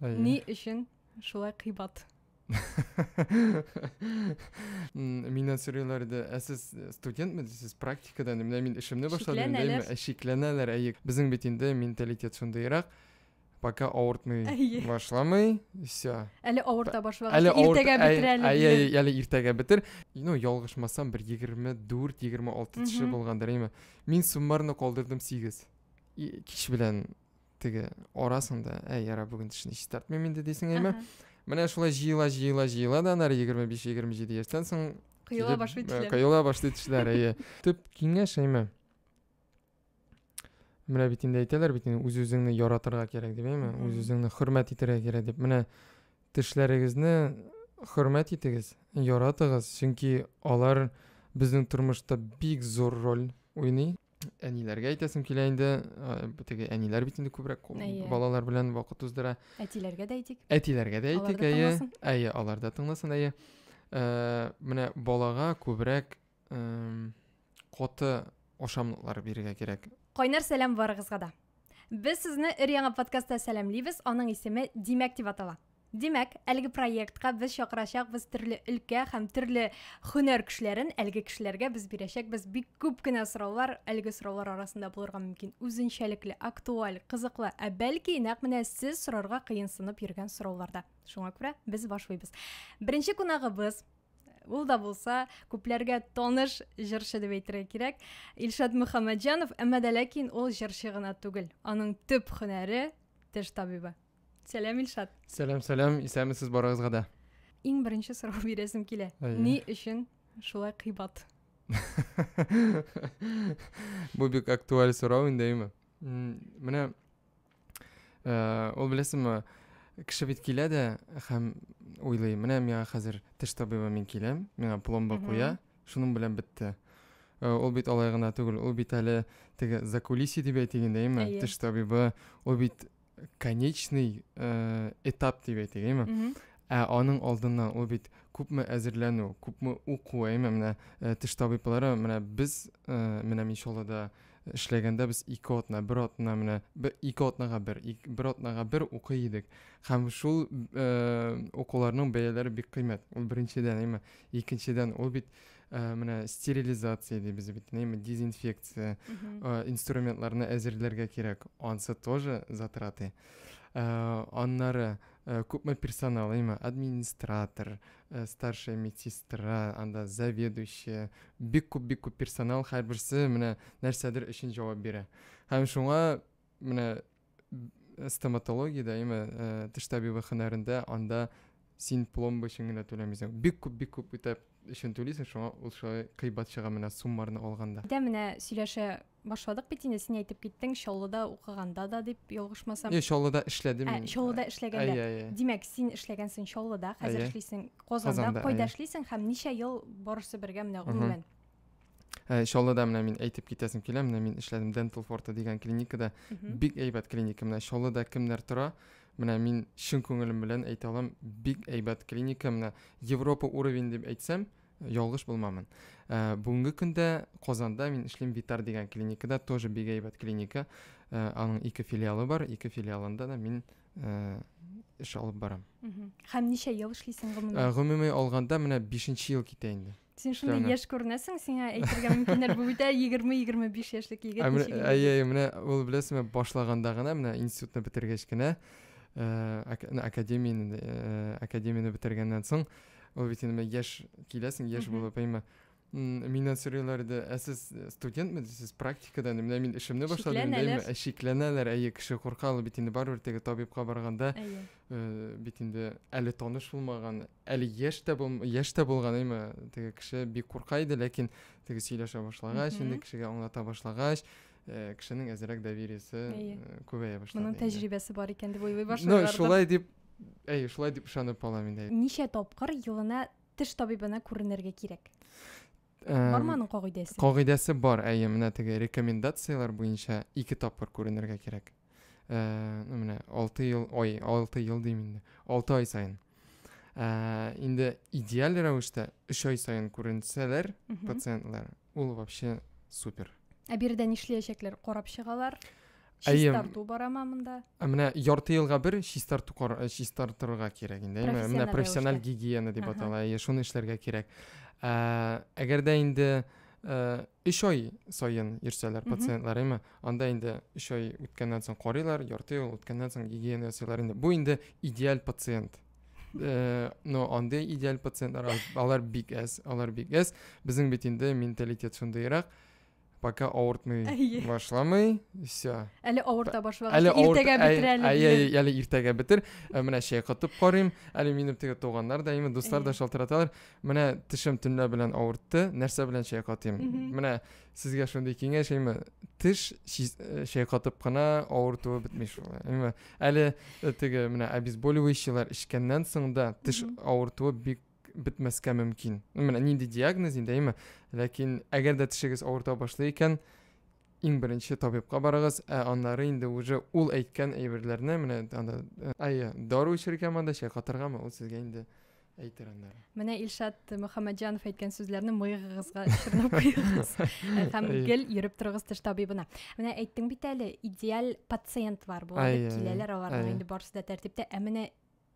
Әйе. Ни өчен шулай кыйбат? Миннән сорыйлар иде, ә сез студентме дисез, практикадан, менә мин эшемне башладым, дәйме, ә шикләнәләр, әйе. Безнең бит инде менталитет шундыйрак, пока авыртмый башламый, все. Әле авырта башлагач, иртәгә бетерәле. Әйе, әйе, әле иртәгә бетер. Ну, ялгышмасам, бер 24-26 теше булгандыр, әйме. Мин суммарно калдырдым 8. Кич белән теге арасың да әй яра бүген тешне чистартмыйм инде дисең әйме менә шулай җыела җыела җыела да анары егерме биш егерме җиде яшьтән соң коела башлый тешләр э, коела башлый тешләр әйе төп киңәш әйме менә бит инде әйтәләр бит инде үз үзеңне яратырга кирәк дип әйме үз үзеңне хөрмәт итәргә кирәк дип менә тешләрегезне хөрмәт итегез яратыгыз чөнки алар безнең тормышта бик зур роль уйный әниләргә әйтәсем килә инде теге әниләр бит инде күбрәк әйе. балалар белән вакыт уздыра әтиләргә дә әйтик әтиләргә дә әйтик әйе әйе алар да тыңласын әйе ә, менә балага күбрәк ә, коты ашамлыклар бирергә кирәк кайнар сәлам барыгызга да без сезне өр яңа подкастта сәламлибез аның исеме димәк дип атала Димәк, әлеге проектка без чакырачакбыз төрле өлкә һәм төрле һөнәр кешеләрен, әлеге кешеләргә без бирәчәкбез бик күп кенә сораулар, әлеге сораулар арасында булырга мөмкин үзенчәлекле, актуаль, кызыклы, ә бәлки нәкъ менә сез сорарга кыенсынып йөргән сорауларда. Шуңа күрә без башлыйбыз. Беренче кунагыбыз ул да булса күпләргә таныш җырчы дип әйтергә кирәк илшат мөхәммәтҗанов әмма дә ләкин ул җырчы гына түгел аның төп һөнәре теш табибы Сәлам, Илшат. Сәлам, сәлам. Исәнмесез барыгызга да. Иң беренче сорау бирәсем килә. Ни өчен шулай кыйбат? Бу бик актуаль сорау инде, әйме? Менә э, ул беләсеңме, кеше бит килә дә һәм уйлый, менә миңа хәзер теш табибы мин киләм, миңа пломба куя, шуның белән бетте. Э, ул бит алай гына түгел, ул бит әле теге закулиси дип әйтик инде, әйме? Теш табибы, ул бит конечный э, этап дип әйтик әйме ә аның алдыннан ул бит күпме әзерләнү күпме уку әйме менә э, теш табиблары менә без э, менә мишолада эшләгәндә без ике атна бер атна менә ике атнага бер бер атнага бер укый идек һәм шул э, укуларның бәяләре бик кыйммәт ул беренчедән әйме икенчедән ул бит ә, менә стерилизация дибез бит нәме дезинфекция ә, инструментларны әзерләргә кирәк ансы тоже затраты ә, аннары ә, күпме персонал имя администратор ә, старшая медсестра анда заведующая бик күп бик күп персонал һәрберсе менә нәрсәдер өчен җавап бирә һәм шуңа менә стоматологиядә, яме теш табибы хөнәрендә анда син пломба өчен генә түләмисең. Бик күп, бик күп үтәп өчен түлисең, шуңа ул шулай кыйбат чыга менә суммарны алганда. Дә менә сөйләшә башладык бит инде, син әйтеп киттең, Чаллыда укыганда да дип ялгышмасам. Е, Чаллыда эшләдем мин. Ә, Чаллыда эшләгәндә. Димәк, син эшләгәнсең Чаллыда, хәзер эшлисең Казанда. Кайда эшлисең һәм ничә ел барысы бергә менә гомумән? Ә, э, чаллыда менә мин әйтеп китәсем килә менә мин эшләдем дентал форта дигән клиникада бик әйбәт клиника менә чаллыда кемнәр тора менә мин чын күңелем белән әйтә алам бик әйбәт клиника менә европа уровень дип әйтсәм ялгыш булмамын ә, бүгенге көндә казанда мин эшлим витар дигән клиникада тоже бик әйбәт клиника ә, аның ике филиалы бар ике филиалында да мин ә, эш алып барам һәм ничә ел эшлисең гомуми ә, гомуми алганда менә бишенче ел китә инде Син шундый яшь күренәсең, сиңа әйтергә мөмкиннәр, бу бит 20-25 яшьлек егет. Әйе, әйе, менә ул беләсеңме, башлаганда гына, менә институтны бетергәч кенә, академияне, академияне бетергәннән соң, ул бит инде яшь киләсең, яшь булып, әйме. Миннән сорыйлар иде, ә сез студентме, сез практикада, менә мин эшемне башладым, әйме, ә шикләнәләр, әйе, кеше курка, ул бит инде барыбер теге табибка барганда, бит инде әле таныш булмаган, әле яшь тә бул яшь тә булганыймы теге кеше бик курка иде ләкин теге сөйләшә башлагач инде кешегә аңлата башлагач э, кешенең әзрәк довериесе э, күбәя башлады моның тәҗрибәсе бар икән дип уйлый башлады шулай дип әй шулай дип ышанып калам инде ничә тапкыр елына теш табибына күренергә кирәк Бармы аның кагыйдәсе? Кагыйдәсе бар, әйе, менә теге рекомендацияләр буенча ике тапкыр күренергә кирәк. Ә, менә 6 ел, ой, 6 ел дим инде. 6 ай саен. Ә, инде идеаль рәвештә 3 ай саен күренсәләр пациентлар, ул вообще супер. Ә биредә нишләячәкләр? Карап чыгалар. Чистарту барама монда. Ә менә ярты елга бер чистарту э, чистартырга кирәк инде. Әйме, менә профессиональ гигиена дип атала. Әйе, шуны эшләргә кирәк. Ә, әгәр дә инде 3 э, ай саен йөрсәләр пациентлар, әйме, анда инде 3 ай үткәннән соң карыйлар, ярты ел үткәннән соң гигиена ясыйлар инде. Бу инде идеаль пациент. Э, но андый идеаль пациентлар алар бик әз, алар бик әз. Безнең бит инде менталитет шундыйрак. пока авыртмый әйе. башламый все әле авырта башлагач әле иртәгә бетер әле әйе әле иртәгә бетер ә, менә чәй катып карыйм әле минем теге туганнар да именно дуслар да шалтыраталар менә тешем төнлә белән авыртты нәрсә белән чәй катыйм менә сезгә шундый киңәш әйме теш э, чәй катып кына авыртуы бетми шул әйме әле э, теге менә обезболивающийлар эчкәннән соң да теш авыртуы бик бетмәскә мөмкин. Менә нинди диагноз инде, әйме? Ләкин әгәр дә тешегез авырта башлый икән, иң беренче табибка барыгыз, ә аннары инде уже ул әйткән әйберләрне менә анда э, әйе, дару эчергә монда чәй катыргамы, ул сезгә инде әйтер аннары. Менә Илшат Мөхәммәтҗанов әйткән сүзләрне мыегыгызга чорнап куегыз һәм гел йөреп торыгыз теш табибына. Менә әйттең бит әле, идеаль пациент бар, булып киләләр аларның инде барысы да тәртиптә, ә менә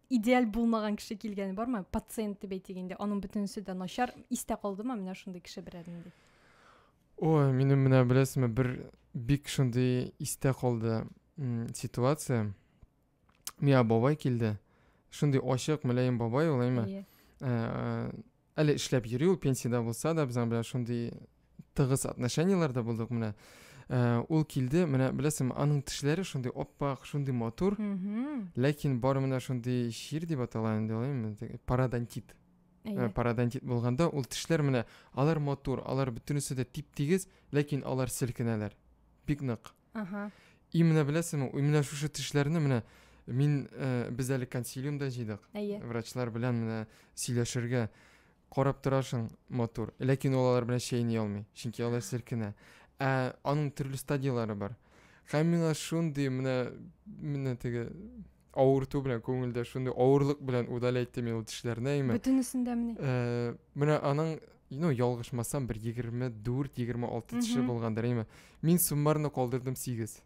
идеаль булмаган кеше килгәне бармы пациент дип әйтик инде аның бөтенесе дә начар истә калдымы менә шундый кеше берәр нинди ой минем менә беләсеңме бер бик шундый истә калды ситуация миңа бабай килде шундый ачык мөләем бабай ул әйме ә, Әле эшләп йөри ул пенсиядә булса да, безнең белән шундый тыгыз отношениеләрдә булдык менә. Ә, ул килде, менә беләсеңме, аның тешләре шундый оппак, шундый матур, ләкин бары менә шундый чир дип атала инде, алай парадонтит. Ә, парадонтит булганда ул тешләр менә алар матур, алар бөтенесе дә тип-тигез, ләкин алар селкенәләр. Бик нык. Ага. И менә беләсеңме, и менә шушы тешләрне менә мин э, без әле консилиумда җыйдык. Әйе. Врачлар белән менә сөйләшергә карап торасың матур. Ләкин ул алар белән чәйни алмый, чөнки алар селкенә. Ә аның төрле стадияләре бар. Һәм миңа шундый менә менә теге авырту белән күңелдә шундый авырлык белән удалять итте мин ул тешләрне әйме бөтенесен дә мени э, менә аның ну ялгышмасам бер егерме дүрт егерме алты теше булгандыр әйме мин суммарно калдырдым сигез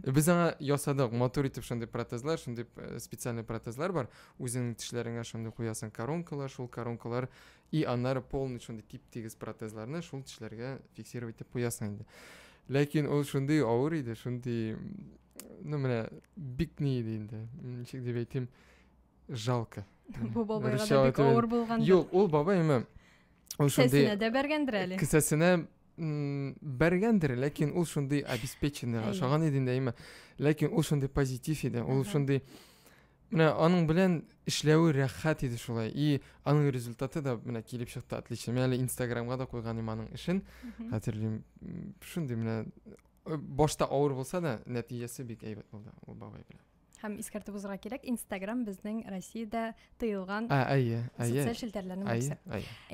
без аңа ясадык матур итеп шундый протезлар шундый э, специальный протезлар бар үзеңнең тешләреңә шундый куясың коронкалар шул коронкалар и аннары полный шундый тип тигез протезларны шул тешләргә фиксировать итеп куясың инде ләкин ул шундый авыр иде шундый ну менә бик ни иде инде ничек дип әйтим жалко бу бабайга да бик авыр булгандыр юк ул бабай эме ул шундый кесәсенә дә бәргәндер әле кесәсенә бәргәндер ләкин ул шундый обеспеченный ашаган иде инде әйме ләкин ул шундый позитив иде ул шундый менә аның белән эшләве рәхәт иде шулай и аның результаты да менә килеп чыкты отлично мен әле инстаграмга да куйган идем аның эшен хәтерлим шундый менә Э, башта авыр булса да нәтиҗәсе бик әйбәт булды ул бабай белән һәм искәртеп узырга кирәк инстаграм безнең россиядә тыелган ә, әйе социаль челтәрләрнең берсе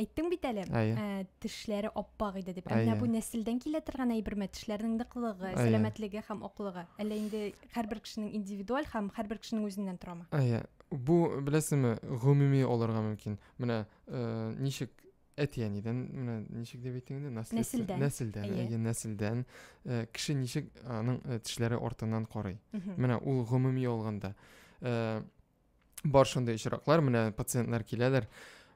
әйттең бит әле ә, тешләре аппак иде дип әмма бу нәселдән килә торган әйберме тешләрнең ныклыгы сәламәтлеге һәм аклыгы әллә инде һәрбер кешенең индивидуаль һәм һәрбер кешенең үзеннән торамы әйе бу беләсеңме гомуми алырга мөмкин менә э, ничек әти-әнидән менә ничек дип әйттең инде нәселдән нәселдән әйе нәселдән э, кеше ничек аның э, тешләре артыннан карый менә ул гомуми алганда э, бар шундый очраклар менә пациентлар киләләр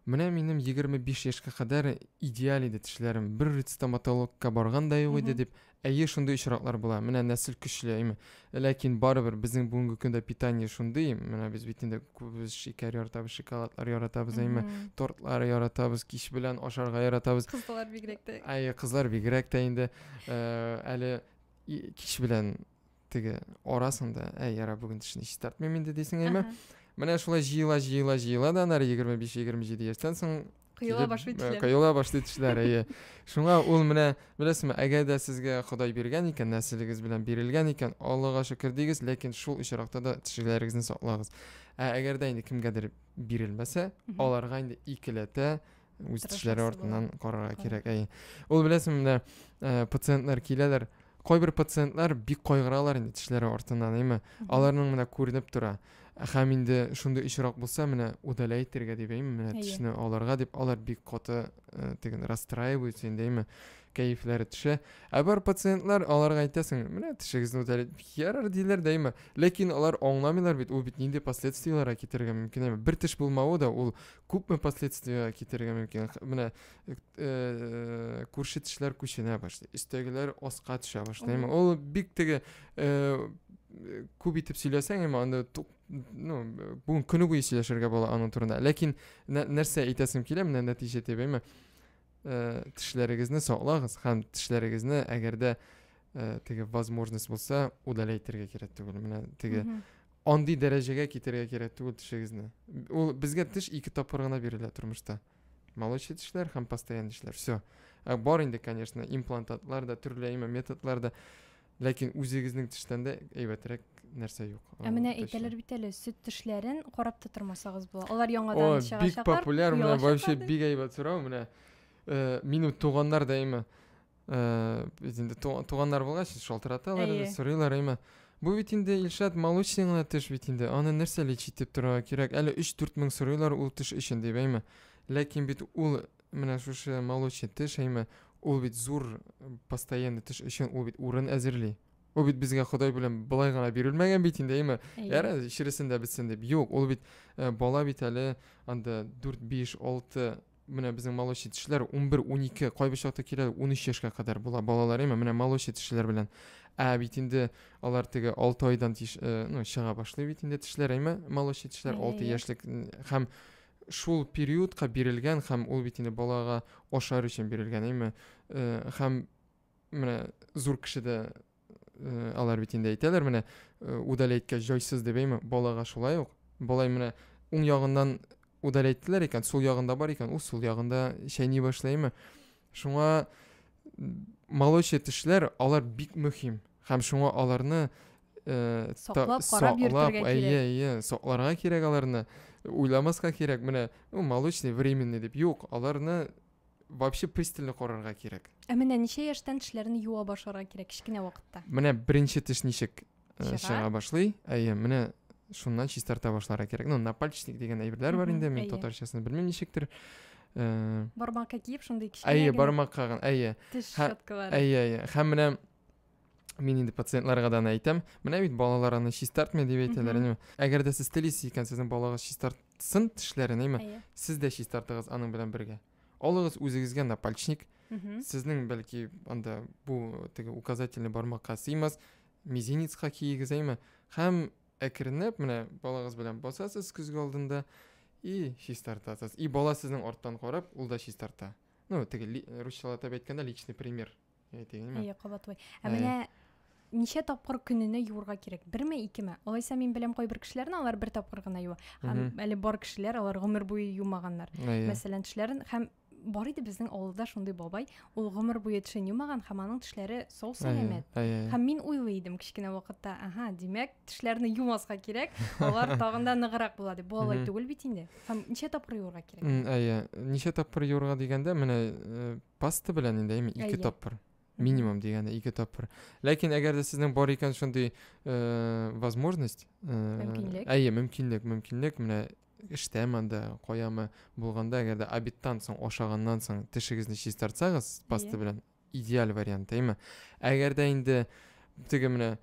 менә минем 25 яшькә кадәр идеаль иде тешләрем бер стоматологка барган да юк иде дип Әйе, шундый очраклар була. Менә нәсел көчле, әйме. Ләкин барыбер безнең бүгенге көндә питание шундый, менә без бит инде күбез шикәр яратабыз, шоколадлар яратабыз, әйме. Тортлар яратабыз, кич белән ашарга яратабыз. Кызлар бигрәк тә. Әйе, кызлар бигрәк тә инде. Э, әле кич белән теге арасың да әй яра бүген тешне чистартмыйм инде дисең әйме менә шулай җыела җыела җыела да анары егерме биш егерме җиде яшьтән соң коела башлый тешләр коела башлый тешләр әйе шуңа ул менә беләсезме әгәр дә сезгә ходай биргән икән нәселегез белән бирелгән икән аллага шөкер дигез ләкин шул очракта да тешеләрегезне саклагыз ә әгәр дә инде кемгәдер бирелмәсә аларга инде икеләтә үз тешләре артыннан карарга кирәк әй ул беләсеңме менә э, пациентлар киләләр кайбер пациентлар бик кайгыралар инде тешләре артыннан әйме аларның менә күренеп тора һәм инде шундый очрак булса менә удаля итәргә дип әйме менә тешне алырга дип алар бик каты э, теген расстраиваются инде әйме кәефләре төшә ә бар пациентлар аларга әйтәсең менә тешегезне удаля ярар диләр дә әйме ләкин алар аңламыйлар бит ул бит нинди последствиеларга китерергә мөмкин әйме бер теш булмавы да ул күпме последствия китерергә мөмкин менә э, э, күрше тешләр күченә башлый өстәгеләр аска төшә башлый әмма ул бик теге э, күп итеп сөйләсәң әмма анда ну бүген көне буе сөйләшергә була аның турында ләкин нәрсә әйтәсем килә менә нәтиҗә дип әйме тешләрегезне саклагыз һәм тешләрегезне әгәр дә теге возможность булса удалять итәргә кирәк түгел менә теге Андый дәрәҗәгә китерергә кирәк түгел тешегезне. Ул безгә теш ике тапкыр гына бирелә тормышта. Молочный тешләр һәм постоянный тешләр. Все. Ә бар инде, конечно, имплантатлар да, төрле әйме методлар да. Ләкин үзегезнең тештән дә әйбәтрәк нәрсә юк. Ә менә әйтәләр бит әле, сөт тешләрен карап та тормасагыз була. Алар яңадан чыгачаклар. Бик популяр, менә вообще бик әйбәт сорау, менә э, минем туганнар да әйме. ә, без инде туганнар булгач шалтыраталар инде сорыйлар әмма бу бит инде илшат молочный гына теш бит инде аны нәрсә лечить итеп торырга кирәк әле өч дүрт мең сорыйлар ул теш өчен дип әйме ләкин бит ул менә шушы молочный теш әйме ул бит зур постоянный теш өчен ул бит урын әзерли ул бит безгә ходай белән былай гына бирелмәгән бит инде әйме яра чересен дә бетсен дип юк ул бит э, бала бит әле анда дүрт биш алты менә безнең малыш итүчеләр 11-12, кайбер чакта килә 13 яшькә кадәр була балалар, әйме, менә малыш итүчеләр белән. Ә бит инде алар теге 6 айдан тиш, э, ну, чыга башлый бит инде тешләр, әйме, малыш итүчеләр 6 яшьлек һәм шул периодка бирелгән һәм ул бит инде балага ашар өчен бирелгән, әйме, э, һәм менә зур кешедә э, алар бит инде әйтәләр менә э, удали әйткәч җайсыз дип әйме балага шулай ук балай менә уң ягыннан удали әйттеләр икән сул ягында бар икән ул сул ягында чәйни башлаймы шуңа молочный тешләр алар бик мөһим һәм шуңа аларны э, саклап карап йөртергә кирәк әйе әйе сакларга кирәк аларны уйламаска кирәк менә ну молочный временный дип юк аларны вообще пристально карарга кирәк ә менә ничә яшьтән тешләрне юа башларга кирәк кечкенә вакытта менә беренче теш ничек э, чыга башлый әйе менә шуннан чистарта башларга кирәк ну напальчник деген әйберләр бар инде мин татарчасын белмим ничектер э, бармакка киеп шундый кечкенә әйе бармакка әйе теш щеткалары әйе әйе һәм менә мин инде пациентларга да аны әйтәм менә бит балалар аны чистартмый дип әйтәләр әниме әгәр дә сез телисез икән сезнең балагыз чистартсын тешләрен әйме сез дә чистартыгыз аның белән бергә алыгыз үзегезгә напальчник сезнең бәлки анда бу теге указательный бармакка сыймас мизинецка киегез әйме һәм әкренләп менә балагыз белән басасыз көзге алдында и чистартасыз и бала сезнең арттан карап ул да чистарта ну теге русчалатып әйткәндә личный пример Әйтәйенме? Әйе, кабатлый. Ә менә ничә тапкыр көненә юырга кирәк? Берме, икеме? Алайса мин беләм кайбер кешеләрне, алар бер тапкыр гына юа. Һәм әле бар кешеләр, алар гомер буе юмаганнар. Мәсәлән, тешләрен һәм бар иде безнең авылда шундый бабай, ул гомер буе тешен юмаган һәм аның тешләре сау сәламәт. Һәм мин уйлый идем кечкенә вакытта, ага, димәк, тешләрне юмаска кирәк, алар тагын да ныграк була дип. Бу алай түгел бит инде. Һәм ничә тапкыр юырга кирәк? Әйе, ничә тапкыр юырга дигәндә, менә э, паста белән инде әйме ике Әйе. тапкыр минимум дигәне ике тапкыр ләкин әгәр дә сезнең бар икән шундый э, возможность э, Мөмкинлек. әйе мөмкинлек мөмкинлек менә эштәме анда каямы булганда әгәр дә обедтан соң ашаганнан соң тешегезне чистартсагыз паста Әйе. белән идеаль вариант әйме әгәр дә инде теге менә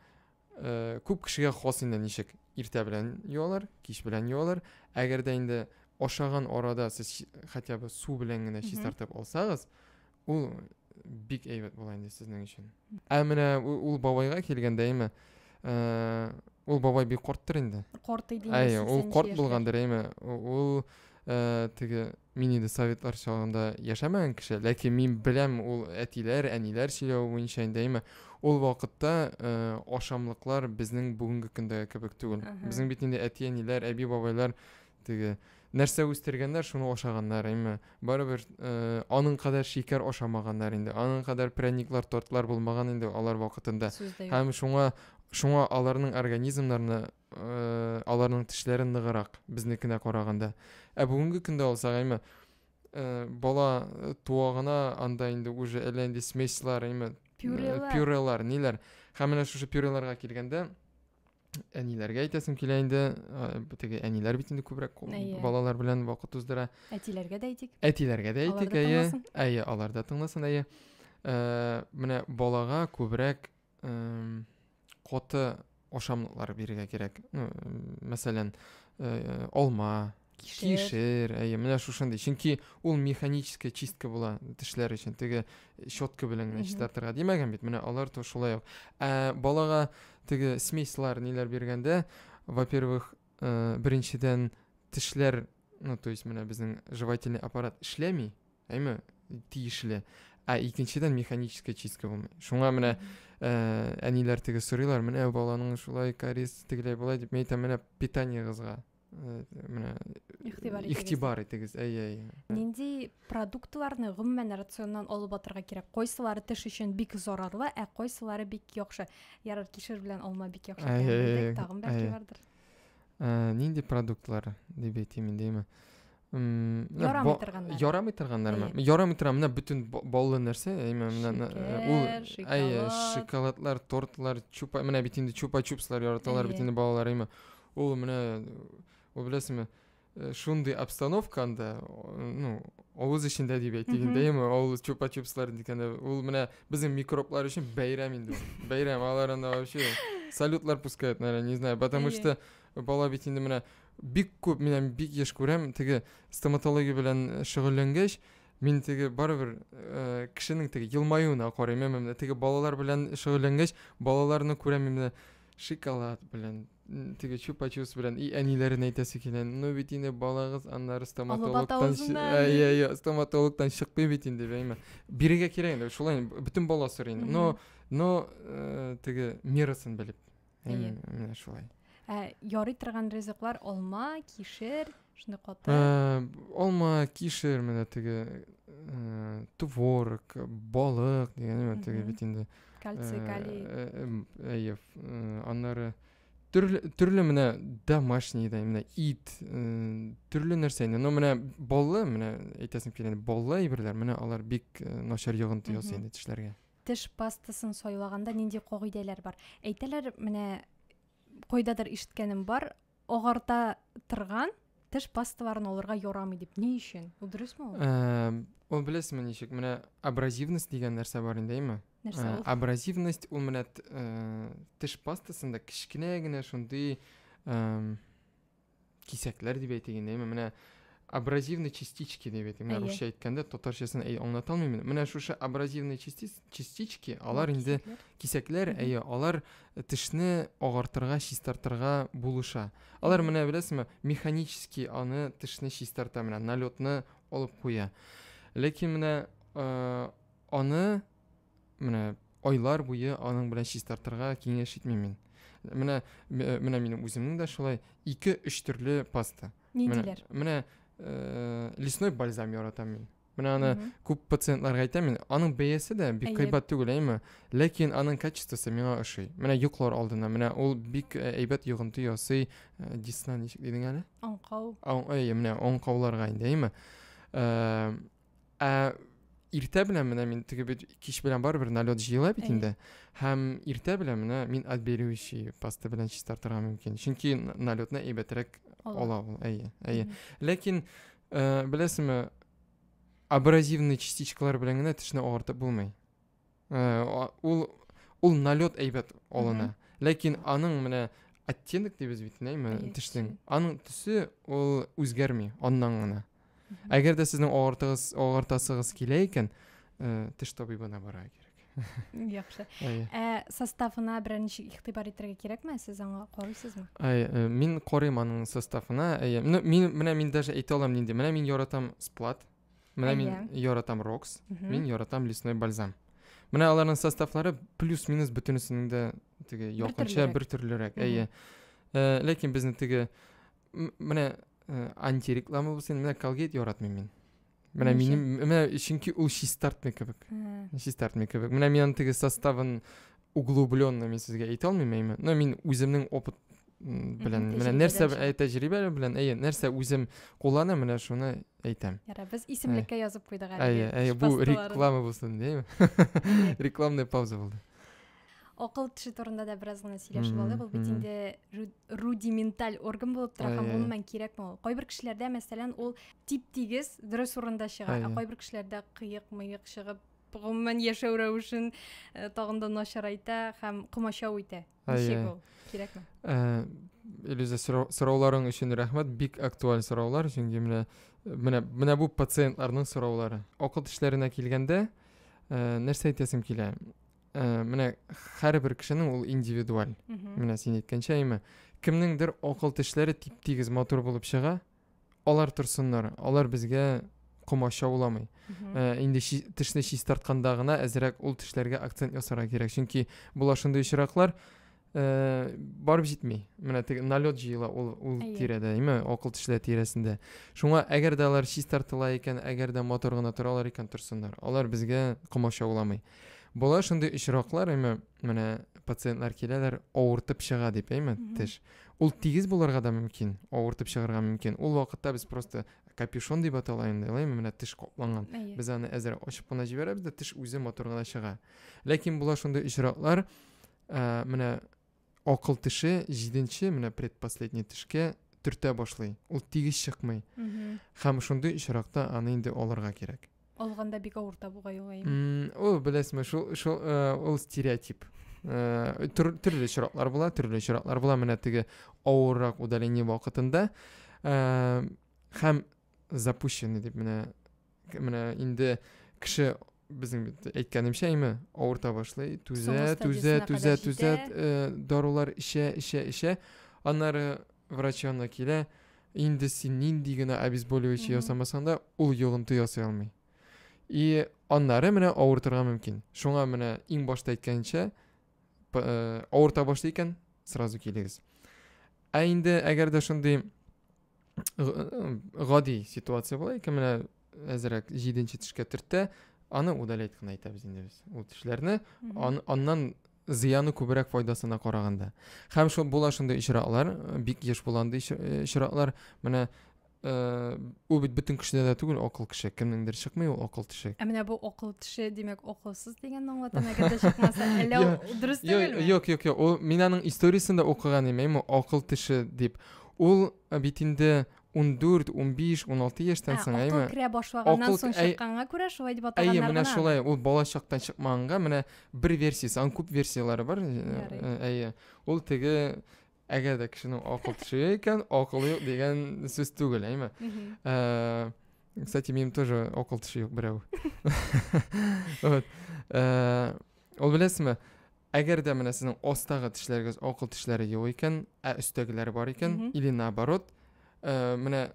Э, күп кешегә хас инде ничек иртә белән юалар кич белән юалар әгәр дә инде ашаган арада сез хотя бы су белән генә чистартып алсагыз ул бик әйбәт була инде сезнең өчен ә менә ул бабайга килгәндә әйме э, ул бабай бик карттыр инде карт иде әйе ул карт булгандыр әйме ул э, теге Мин инде советлар чагында яшәмәгән кеше, ләкин мин беләм ул әтиләр, әниләр сөйләве буенча инде әйме. Ул вакытта э, ашамлыклар безнең бүгенге көндә кебек түгел. Безнең бит инде әти-әниләр, әби-бабайлар теге нәрсә үстергәннәр, шуны ашаганнар, әйме. Барыбер э, аның кадәр шикәр ашамаганнар инде, аның кадәр пряниклар, тортлар булмаган инде алар вакытында. Һәм шуңа шуңа аларның организмнарына э, аларның тешләре ныгырак безнекенә караганда ә бүгенге көндә алсак әйме э, бала э, туа гына анда инде уже әллә нинди смеслар әйме пюрелар ниләр һәм менә шушы пюреларга килгәндә әниләргә әйтәсем килә инде теге әниләр бит инде күбрәк балалар белән вакыт уздыра әтиләргә дә әйтик әтиләргә дә әйтик әйе әйе алар да тыңласын әйе менә балага күбрәк эм, каты ашамлыклар бирергә кирәк. Ну, мәсәлән, э, алма, кишер, кишер әйе, менә шушындый. Чөнки ул механическая чистка була тешләр өчен. Теге щетка белән генә чистартырга димәгән бит. Менә алар то шулай ук. Ә балага теге смеслар ниләр биргәндә, во-первых, э, беренчедән тешләр, ну, то есть менә безнең жевательный аппарат эшләми, Әйме, тиешле. Ә икенчедән механическая чистка булмый. Шуңа менә ә, әниләр теге сорыйлар, менә баланың шулай кариз тегеләй болай дип, мен әйтәм, менә питаниегызга э, менә игътибар итегез. Әйе, әйе. Нинди продуктларны гомумән рационнан алып атырга кирәк? Кайсылары теш өчен бик зарарлы, ә кайсылары бик яхшы. Ярар, кишер белән алма бик яхшы. Әйе, әйе. Тагын бәлки бардыр. Ә, нинди продуктлар дип әйтим инде, әйме? ярамый торганнар ярамый торганнармы ярамый тора менә бөтен баллы нәрсә әйме менә ул әйе шоколадлар тортлар чупа менә бит инде чупа чупслар яраталар бит инде балалар әйме ул менә ул беләсеңме шундый обстановка анда ну авыз эчендә дип әйтик инде әйме ул чупа чупслар дигәндә ул менә безнең микроблар өчен бәйрәм инде бәйрәм алар анда вообще салютлар пускают наверное не знаю потому что бала бит инде менә Бик күп, менә бик еш күрәм, теге стоматология белән шөгыльләнгәч, мин теге барыбер э, кешенең теге елмаюына карыйм, әмма менә теге балалар белән шөгыльләнгәч, балаларны күрәм менә шоколад белән, теге чупа-чупс белән и әниләрен әйтәсе килә. Ну бит инде балагыз аннары стоматологтан әйе, стоматологтан чыкмый бит инде бәйме. Бирегә кирәк инде, шулай бөтен бала сорый инде. Но но э, теге мерасын белеп. Әйе. Менә шулай. Ә ярый торган ризыклар алма, кишер, шундый каты. Ә, алма, кишер, менә теге ә, творог, балык дигән теге бит инде. Кальций, калий. Әйе. Аннары төрле төрле менә домашний да менә ит төрле нәрсә инде но менә баллы менә әйтәсем килә баллы әйберләр менә алар бик начар йогынты ясый инде тешләргә Теш пастасын сайлаганда нинди кагыйдәләр бар? Әйтәләр, менә кайдадыр ишеткәнем бар, агарта торган теш пасталарын алырга ярамый дип. Ни өчен? Ул дөресме ул? Э, ул беләсезме ничек? Менә абразивность дигән нәрсә бар инде, әйме? Нәрсә э, ул? Абразивность ул менә э, теш пастасында кечкенә генә шундый кисәкләр дип әйтик инде әйме менә абразивный частички дип әйтик менә русча әйткәндә татарчасын әй аңлата алмыйм менә шушы абразивный частички алар инде кисәкләр әйе алар тешне агартырга чистартырга булыша алар менә беләсеңме механически аны тешне чистарта менә налетны алып куя ләкин менә э, аны менә айлар буе аның белән чистартырга киңәш итмим мин. Менә менә минем үземнең дә шулай 2-3 төрле паста. Ниндиләр? Менә э, лесной бальзам яратам мин. Менә аны күп пациентларга әйтәм мин. Аның бәясе дә бик кыйбат түгел, әйме? Ләкин аның качествосы миңа ошый. Менә йоклар алдына, менә ул бик э, әйбәт йогынты ясый. Э, Дисна ничек дидең әле? Аңкау. Аңкау, менә аңкауларга инде, әйме? Э, Ә иртә белән менә мин теге бит кич белән барыбер налет җыела бит инде. Һәм иртә белән менә мин отбеливающий паста белән чистартырга мөмкин. Чөнки налетны әйбәтрәк ала ул. Әйе, әйе. Ләкин э, беләсеңме, абразивный частичкалар белән генә тешне агартып булмый. Э, ул ул налет әйбәт алына. Ләкин аның менә оттенок дибез бит, нәйме, төшсең. Аның төсе ул үзгәрми аннан гына. Әгәр дә сезнең агартыгыз, агартасыгыз килә икән, э, теш табибына бара кирәк. Яхшы. Ә составына беренче игътибар итәргә кирәкме? Сез аңа карыйсызмы? Әй, э, мин карыйм аның составына. Әй, ну, мин менә мин даже әйтә алам нинди. Менә мин яратам сплат. Менә мин яратам рокс, мин яратам лесной бальзам. Менә аларның составлары плюс-минус бөтенесенең дә теге якынча бер төрлерәк. Әйе. Э, ләкин безне теге менә э, антиреклама булсын, менә Colgate яратмыйм мин. Менә минем менә чөнки ул чистартмый кебек. Чистартмый кебек. Менә мин аны теге составын углубленно мин сезгә әйтә алмыйм әйме но мин үземнең опыт белән менә нәрсә тәҗрибә белән әйе нәрсә үзем кулланам менә шуны әйтәм ярар без исемлеккә язып куйдык әле әйе әйе бу реклама булсын дим рекламная пауза булды акыл теше турында да бераз гына сөйләшеп алдык ул бит инде рудименталь орган булып тора һәм гомумән кирәкме ул кайбер кешеләрдә мәсәлән ул тип тигез дөрес урында чыга ә кайбер кешеләрдә кыек мыек чыгып гомумән яшәү рәвешен э, тагын да начарайта һәм комачау итә ничек ул кирәкме э, Элиза, сорауларың өчен рәхмәт. Бик актуаль сораулар, чөнки менә менә менә бу пациентларның сораулары. Акыл тешләренә килгәндә, э, нәрсә әйтәсем килә? Э, менә һәрбер кешенең ул индивидуаль. Менә син әйткәнчә, әйме, кемнеңдер акыл тешләре тип-тигез матур булып чыга, алар торсыннар алар безгә комача уламый ә, инде чи, тешне чистартканда гына әзрәк ул тешләргә акцент ясарга кирәк чөнки була шундый очраклар ә, барып җитми менә теге налет җыела ул, ул тирәдә әйме акыл тешләр тирәсендә шуңа әгәр дә алар чистартыла икән әгәр дә матур гына торалар икән торсыннар алар безгә комача уламый була шундый очраклар әйме менә пациентлар киләләр авыртып чыга дип әйме теш Ул тигез булырга да мөмкин, авыртып чыгарга мөмкин. Ул вакытта без просто капюшон дип атала инде, лайм менә теш капланган. Без аны әзер ачып кына җибәрәбез дә теш үзе матур гына чыга. Ләкин була шундый очраклар, ә, менә акыл теше 7-нче, менә предпоследний тешкә төртә башлый. Ул тигез чыкмый. Һәм шундый очракта аны инде алырга кирәк. алганда бик авыр табуга юлаймы ул беләсеңме шул шул ул стереотип э, төрле очраклар була төрле очраклар була менә теге авыррак удаление вакытында э, һәм запущенный дип менә менә инде кеше біздің әйткәнемчә әйме ауырта башлай түзә түзә түзә түзә э, дарулар ішә ішә ішә аннары врач янына килә Инде син нинди генә обезболивающий ясамасаң да, ул йогынты ясый алмый. И аннары менә авыртырга мөмкин. Шуңа менә иң башта әйткәнчә, э, авырта башлый икән, сразу килегез. Ә инде әгәр дә шундый э, гади ситуация була икән, менә әзерәк 7 тешкә төртә, аны удалять кына әйтәбез инде без. Ул тешләрне аннан Зыяны күбрәк файдасына караганда. Һәм шул була шундый очраклар, бик еш була андый очраклар. Менә ул бит бөтен кешедә дә түгел акыл кеше кемнеңдер чыкмый ул акыл теше ә менә бу акыл теше димәк акылсыз дигәнне аңлатам әгәр дә чыкмаса әллә дөрес түгелме юк юк юк ул мин аның историясен дә укыган идем акыл теше дип ул бит инде 14, 15, 16 яшьтән соң, әйме? Акыл керә башлаганнан соң чыкканга күрә шулай дип атаганнар. Әйе, менә шулай. Ул бала чактан чыкмаганга менә бер версиясе, аның күп версияләре бар. Әйе. Ул теге әгәр дә кешенең акыл төшә икән, акылы юк дигән сүз түгел, әйме? Кстати, минем тоже акыл төшү юк берәү. Вот. Ул беләсезме? Әгәр дә менә сезнең астагы тешләрегез акыл тешләре юк икән, ә өстәгеләр бар икән, или наоборот, э, менә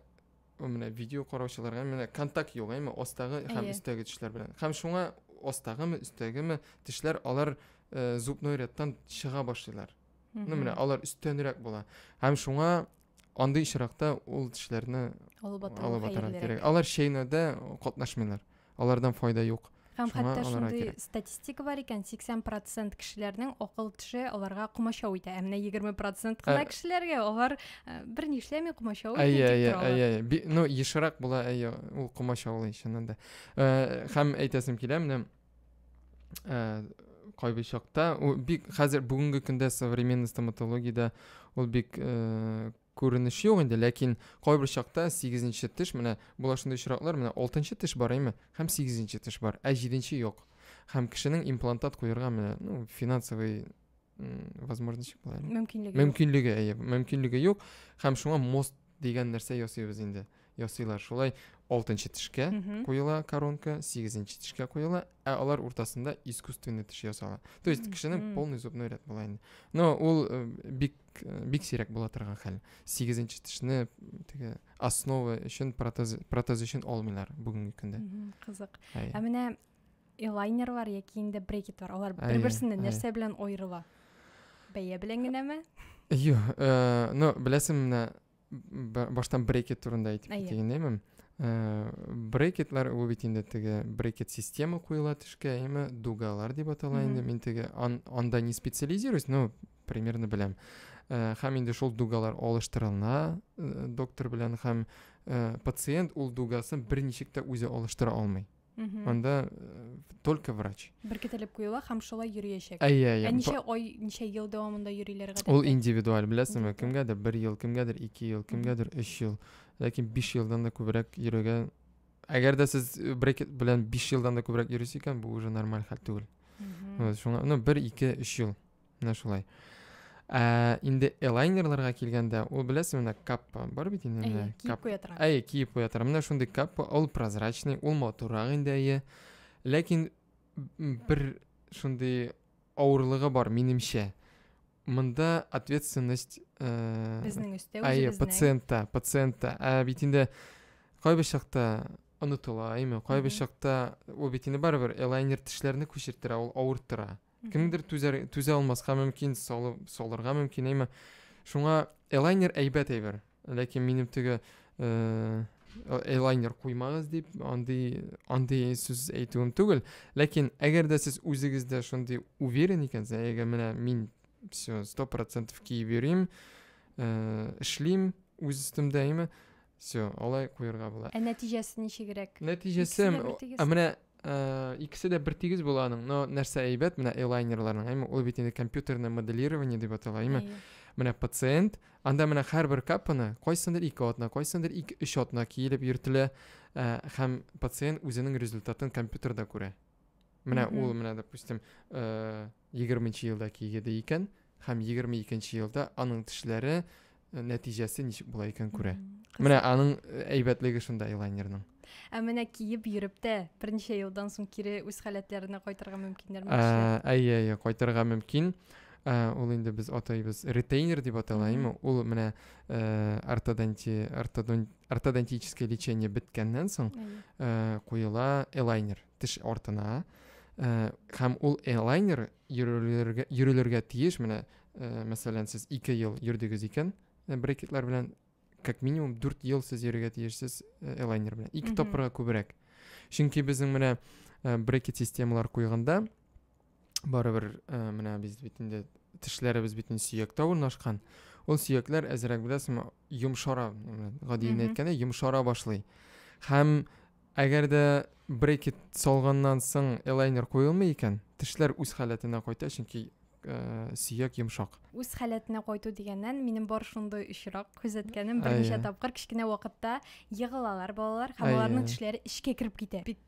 менә видео караучыларга менә контакт юк әйме астагы һәм өстәге тешләр белән һәм шуңа астагымы өстәгеме тешләр алар э, зубной рядтан чыга башлыйлар ну менә алар өстәнрәк була һәм шуңа Андый очракта ул тешләрне алып атарга кирәк. Алар чәйнәүдә катнашмыйлар. Алардан файда юк. Һәм хәтта шундый статистика бар икән, 80% кешеләрнең акыл теше аларга комачау итә. Ә менә 20% кына кешеләргә алар бер ни эшләми комачау итә. Әйе, әйе, әйе. Ну, ешрак була, әйе, ул комачаулый чыннан да. Һәм әйтәсем килә, менә ә, кайбер чакта ул бик хәзер бүгенге көндә современный стоматологиядә ул бик ә, күренеш юк инде ләкин кайбер чакта сигезенче теш менә була шундый очраклар менә алтынчы теш бар әйме һәм сигезенче теш бар ә җиденче юк һәм кешенең имплантат куярга менә ну финансовый возможность былай мөмкинлеге мөмкинлеге әйе мөмкинлеге юк һәм шуңа мост дигән нәрсә ясыйбыз инде ясыйлар шулай алтынчы тешкә куела коронка сигезенче тешкә куела ә алар уртасында искусственный теш ясала то есть кешенең полный зубной ряд була инде но ул э, бик э, бик сирәк була торган хәл сигезенче тешне теге основа өчен протез протез өчен алмыйлар бүгенге көндә кызык ә менә Элайнерлар яки инде брекетлар, алар бер-берсеннән нәрсә белән аерыла? Бәя белән генәме? Юк, э, ну, беләсең менә баштан брекет турында әйтеп китик инде, Э, брекетлар ул бит инде теге брекет система куела төшкә әйме дугалар дип атала инде мин теге ан, анда не специализируюсь но примерно беләм э, һәм инде шул дугалар алыштырыла э, доктор белән һәм пациент ул дугасын бер ничек тә үзе алыштыра алмый анда э, только врач беркетелеп куела һәм шулай йөриячәк әйе әйе ә ничә ай ничә ел дәвамында йөриләр гадәттә ул индивидуаль беләсеңме кемгәдер бер ел кемгәдер ике ел кемгәдер өч ел ләкин биш елдан да күбрәк йөрергә әгәр дә сез э, брекет белән биш елдан да күбрәк йөрисез икән бу уже нормаль хәл түгел шуңа ну бер ике өч ел Менә шулай. Ә, инде элайнерларга килгәндә, ул беләсең, менә каппа бар бит инде. Әйе, киеп куя тора. Әйе, киеп куя тора. Менә шундый каппа, ул прозрачный, ул матуррак инде, әйе. Ләкин бер шундый авырлыгы бар, минемчә. Монда ответственность э, безнең өстә әйе, үзебезнең. пациентта, пациентта. Ә бит инде кайбер чакта онытыла, әйме, кайбер чакта ул бит инде барыбер элайнер тешләрне күчерттерә, ул авырттыра. Мгм. кемдер түзәр түзә алмаска мөмкин салып салырга мөмкин әйме шуңа элайнер әйбәт әйбер ләкин минем теге э, элайнер куймагыз дип андый андый сүз әйтүем түгел ләкин әгәр дә сез үзегездә шундый уверен икәнсез әгәр менә мин все сто процентов киеп йөрим э, эшлим үз өстемдә әйме Все, алай куярга була. Ә нәтиҗәсе ничегрәк? Нәтиҗәсе, ә менә э, икесе дә бер тигез була аның, но нәрсә әйбәт, менә элайнерларның, әйме, ул бит инде компьютерное моделирование дип атала, әйме. Менә пациент, анда менә һәрбер капаны кайсындыр ике атна, кайсындыр ике өч атна киелеп йөртелә, э, һәм пациент үзенең результатын компьютерда күрә. менә ул менә допустим э, егерменче елда кигеде икән һәм егерме икенче елда аның тешләре э, нәтиҗәсе ничек була икән күрә менә аның э, әйбәтлеге шунда элайнерның ә менә киеп йөреп тә берничә елдан соң кире үз халәтләренә кайтырга мөмкиннәрме ә, әйе әйе кайтырга мөмкин ә, ул инде без атайбыз ретейнер дип атала әйме ул менә ә, ортодонти ортодонт ортодонтический лечение беткәннән соң э, куела элайнер теш артына э, һәм ул элайнер йөрелергә йөрелергә тиеш менә э, мәсәлән сез ике ел йөрдегез икән э, брекетлар белән как минимум дүрт ел сез йөрергә тиешсез э, элайнер белән ике тапкырга күбрәк чөнки безнең менә э, брекет системалар куйганда барыбер ә, менә без бит инде тешләребез бит инде сөяктә урнашкан ул сөякләр әзрәк беләсеңме йомшара гади генә әйткәндә йомшара башлый һәм әгәр дә брекет салганнан соң элайнер куелмый икән тешләр үз халәтенә кайта чөнки ә, сөяк йомшак үз халәтенә кайту дигәннән минем бар шундый очрак күзәткәнем берничә тапкыр кечкенә вакытта егылалар балалар һәм аларның тешләре эчкә кереп китә бик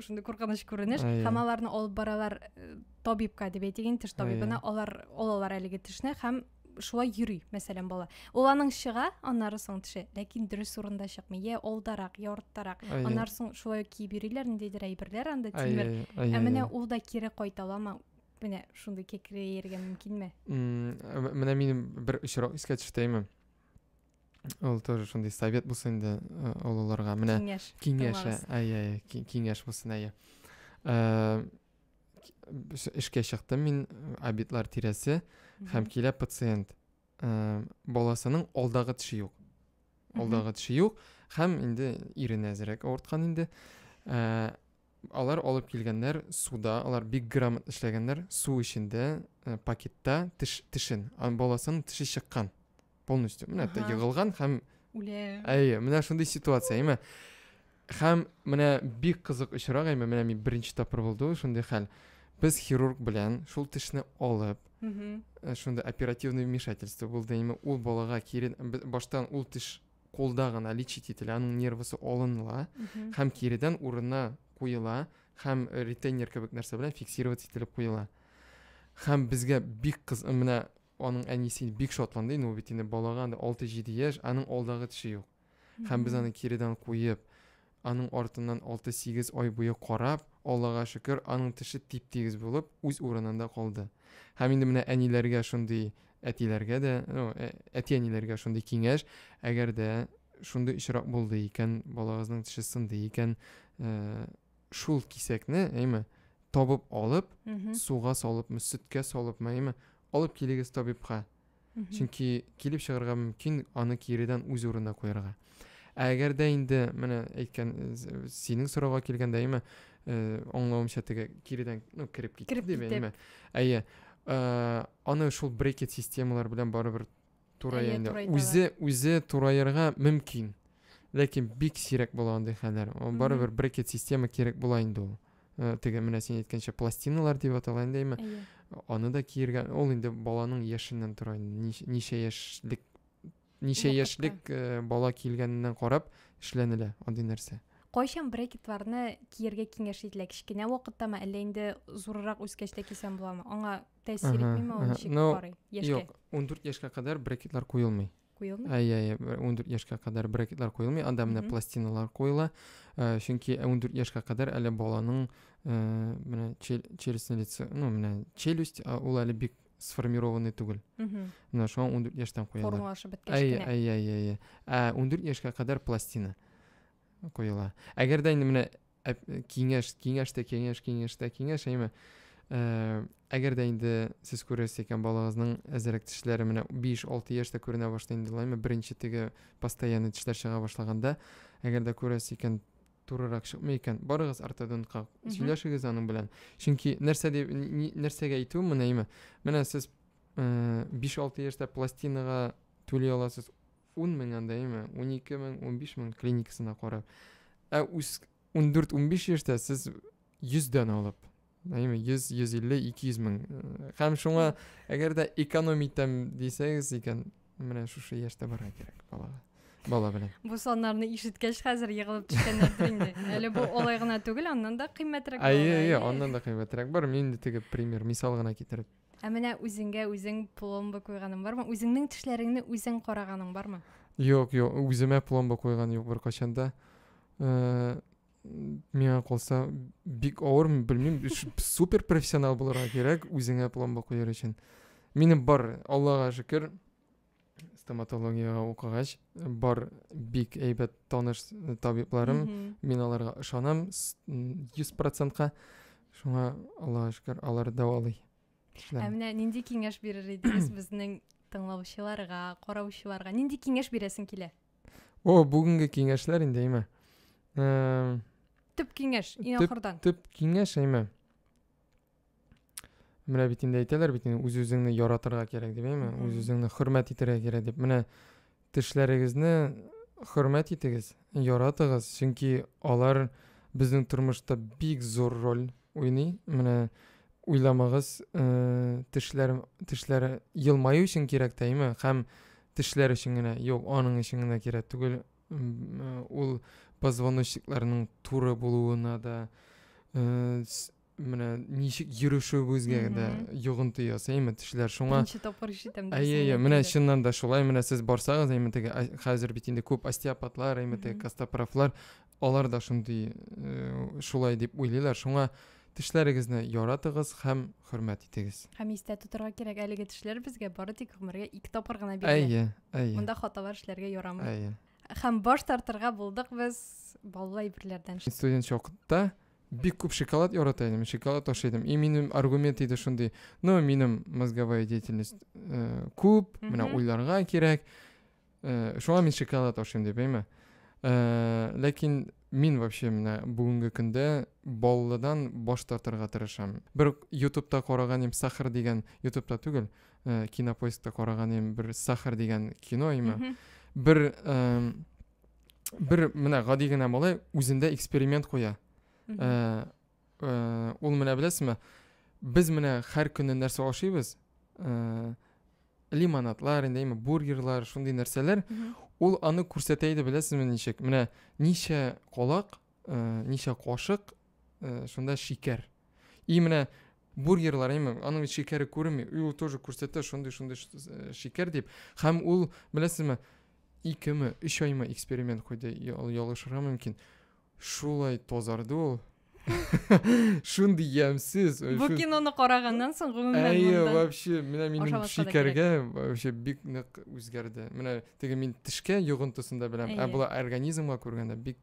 шундый куркыныч күренеш һәм аларны алып баралар э, табибка дип әйтик инде теш табибына алар алалар әлеге тешне һәм шулай йөри мәсәлән бала ул аның чыга аннары соң теше ләкин дөрес урында чыкмый йә алдарак йә арттарак аннары соң шулай киеп йөриләр ниндидер әйберләр анда тимер ә менә ул да кире кайта аламы менә шундый кекрәерергә мөмкинме менә минем бер очрак искә төште әйме Ул тоже шундый совет булсын инде э, олыларга. Менә киңәш. Киңәш, әйе, әйе, киңәш булсын, әйе. Э, эшкә чыктым мин э, обедлар тирәсе һәм килә пациент. Баласының алдагы теше юк. Алдагы теше юк һәм инде ирен әзрәк авырткан инде. Алар алып килгәннәр суда, алар бик грамотно эшләгәннәр, су эчендә, э, пакетта теш, тешен, ан баласын теше чыккан полностью. Менә это егылган һәм үлә. Әйе, менә шундый ситуация, әйме. Һәм менә бик кызык очрак, әйме, менә мин беренче тапкыр булды ул шундый хәл. Без хирург белән шул тешне алып, э, шунда оперативный вмешательство булды, әйме, ул балага кирен баштан ул теш кулда гына лечить ителә, аның нервысы алынла һәм киредән урынына куела һәм ретейнер кебек нәрсә белән фиксировать ителеп куела. Һәм безгә бик кыз менә аның әнисе бик шатланды, ну бит инде балага 6-7 яшь, аның алдагы теше юк. Һәм без аны киредән куеп, Аның артыннан алты-сигез ай буе карап, Аллага шөкер, аның теше тип-тигез булып, үз урынында калды. Һәм инде менә әниләргә шундый, әтиләргә дә, ну, ә, әти-әниләргә шундый киңәш, әгәр дә шундый очрак булды икән, балагызның теше сынды икән, ә, шул кисәкне, әйме, табып алып, суга салыпмы, сөткә салыпмы, әйме, алып килегез табибка. чөнки килеп чыгарга мөмкин аны киредән үз урынына куярга ә әгәр дә инде менә әйткән синең сорауга килгәндә әйме э, аңлавымча теге киредән ну кереп китте дип әйме әйе э, аны шул брекет системалар белән барыбер турая инде үзе үзе тураерга мөмкин ләкин бик сирәк була андый хәлләр барыбер брекет система кирәк була инде ул э, теге менә син әйткәнчә пластиналар дип атала инде әйме аны да киергән ул инде баланың яшеннән тора ничә яшьлек ничә яшьлек э, бала килгәненнән карап эшләнелә андый нәрсә кайчан брекетларны киергә киңәш ителә кечкенә вакыттамы әллә инде зуррак үскәч тә кисәм буламы аңа тәэсир итмиме ул ничек карый яшькә юк ундүрт яшькә кадәр брекетлар куелмый куелмый? Әй, әй, 14 яшькә кадәр брекетлар куелмый, анда менә пластиналар куела. Э, чөнки 14 яшькә кадәр әле баланың э, менә челюстьне лицо, ну, менә челюсть, ул әле бик сформированный түгел. Менә шуңа 14 яшьтән куялар. Формалашып беткәч кенә. Әй, әй, әй, әй. Ә 14 яшькә кадәр пластина куела. Әгәр дә инде менә киңәш киңәш тә киңәш киңәш тә киңәш әйме әгәр дә инде сез күрәсез икән балагызның әзерәк тешләре менә 5-6 яшьтә күренә башлый инде лайма беренче теге постоянный тешләр чыга башлаганда әгәр дә күрәсез икән турырак чыкмый икән барыгыз ортодонтка сөйләшегез аның белән чөнки нәрсә дип нәрсәгә әйтү менә әйме менә сез 5-6 яшьтә пластинага түли аласыз ун мең андайымы, унике мең, унбиш мең клиникасына карап. Ә үз ундүрт-унбиш яшьтә сез йөздән алып, әйме, йөз, йөз илле, ике йөз мең. Һәм шуңа, әгәр дә экономитәм дисәгез икән, менә шушы яшьтә барырга кирәк балага. Бала белән. Бу саннарны ишеткәч хәзер егылып төшкәннәрдер инде. Әле бу олай гына түгел, аннан да кыйммәтрәк. Әйе, әйе, аннан да кыйммәтрәк бар. Мин инде теге пример, мисал гына китереп Ә менә үзеңгә үзең пломба куйганың бармы? Үзеңнең тешләреңне үзең караганың бармы? Юк, юк, үземә пломба куйган юк беркайчан да. Э, миңа калса, бик авыр, белмим, супер профессионал булырга кирәк үзеңә пломба куяр өчен. Минем бар, Аллага шөкер, стоматологияга укыгач бар бик әйбәт таныш табибларым мин аларга ышанам йөз процентка шуңа аллага шөкер алар дәвалый ә менә нинди киңәш бирер идегез безнең тыңлаучыларга караучыларга нинди киңәш бирәсең килә о бүгенге киңәшләр инде әйме төп киңәш иң ахырдан төп киңәш әйме менә бит инде әйтәләр бит инде үз үзеңне яратырга кирәк дип әйме үз үзеңне хөрмәт итәргә кирәк дип менә тешләрегезне хөрмәт итегез яратыгыз чөнки алар безнең тормышта бик зур роль уйный менә уйламагыз э, тешләр тешләр елмаю өчен кирәк тә әйме һәм тешләр өчен генә юк аның өчен генә кирәк түгел э, ул позвоночникларның туры булуына да э, менә ничек йөрешүебезгә дә йогынты ясый әйме тешләр шуңа беренче тапкыр ишетәм әйе әйе менә чыннан да шулай менә сез барсагыз әйме теге хәзер бит инде күп остеопатлар әйме теге костопрофлар алар да шундый э, шулай дип уйлыйлар шуңа тешләрегезне яратыгыз һәм хөрмәт итегез һәм истә тотырга кирәк әлеге тешләр безгә бары тик гомергә ике тапкыр гына бирелә әйе әйе монда хаталар эшләргә ярамый әйе һәм баш тартырга булдык без баллы әйберләрдән студент вакытта Бик күп шоколад ярата идем, шоколад ашый идем. И минем аргумент иде шундый. Ну, минем мозговая деятельность э, күп, менә уйларга кирәк. Э, шуңа мин шоколад ашыйм дип, әйме? Э, ләкин мин вообще менә бүгенге көндә баллыдан баш тартырга тырышам. Бер ютубта караган им Сахар дигән, ютубта түгел, э, кинопоискта караган им бер Сахар дигән кино име. Бер э, бер менә гади генә малай үзендә эксперимент куя ә, ә, ул менә беләсезме без менә һәр көнне нәрсә ашыйбыз ә, лимонадлар инде бургерлар шундый нәрсәләр ул аны күрсәтә иде беләсезме ничек менә ничә колак ә, ничә кашык ә, шунда шикәр и менә бургерлар әйме аның бит шикәре күренми и ул тоже күрсәтә шундый шундый э, шикәр дип һәм ул беләсезме икеме өч айма эксперимент куйды ялгышырга мөмкин шулай тазарды ул шундый ямьсез бу киноны караганнан соң гомумән әйе вообще менә минем шикәргә вообще бик нык үзгәрде менә теге мин тешкә йогынтысын да беләм ә болай организмга күргәндә бик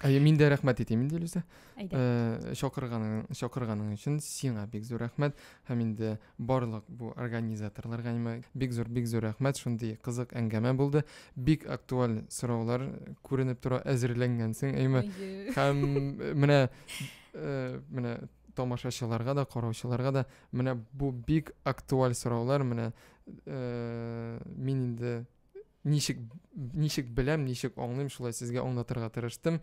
Әйе, мин дә рәхмәт әйтәм инде Илүзә. Әйдә. Э, чакырганың, чакырганың өчен сиңа бик зур рәхмәт һәм инде барлык бу организаторларга нимә бик зур бик зур рәхмәт. Шундый кызык әңгәмә булды. Бик актуаль сораулар күренеп тора, әзерләнгәнсең, әйме? Һәм э, менә э, менә тамашачыларга да, караучыларга да менә бу бик актуаль сораулар, менә э, мин инде Ничек ничек беләм, ничек аңлыйм, шулай сезгә аңлатырга тырыштым.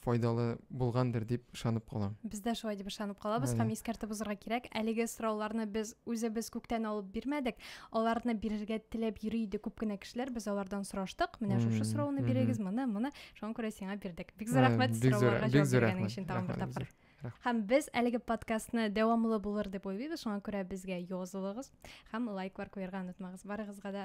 Файдалы булгандыр дип ышанып калам. Без дә шулай дип ышанып калабыз һәм искәртеп узарга кирәк, әлеге сорауларны без үзебез күктән алып бирмәдек. Аларны бирергә теләп йөри иде күп кенә кешеләр, без алардан сораштык. Менә шушы сорауны бирегез, моны, моны. Шуңа күрә сиңа бирдек. Бик зур рәхмәт сорауларга җавап биргәнең өчен тагын бер тапкыр. Һәм без әлеге подкастны дәвамлы булыр дип уйлыйбыз, шуңа күрә безгә язылыгыз һәм лайклар куярга онытмагыз. Барыгызга да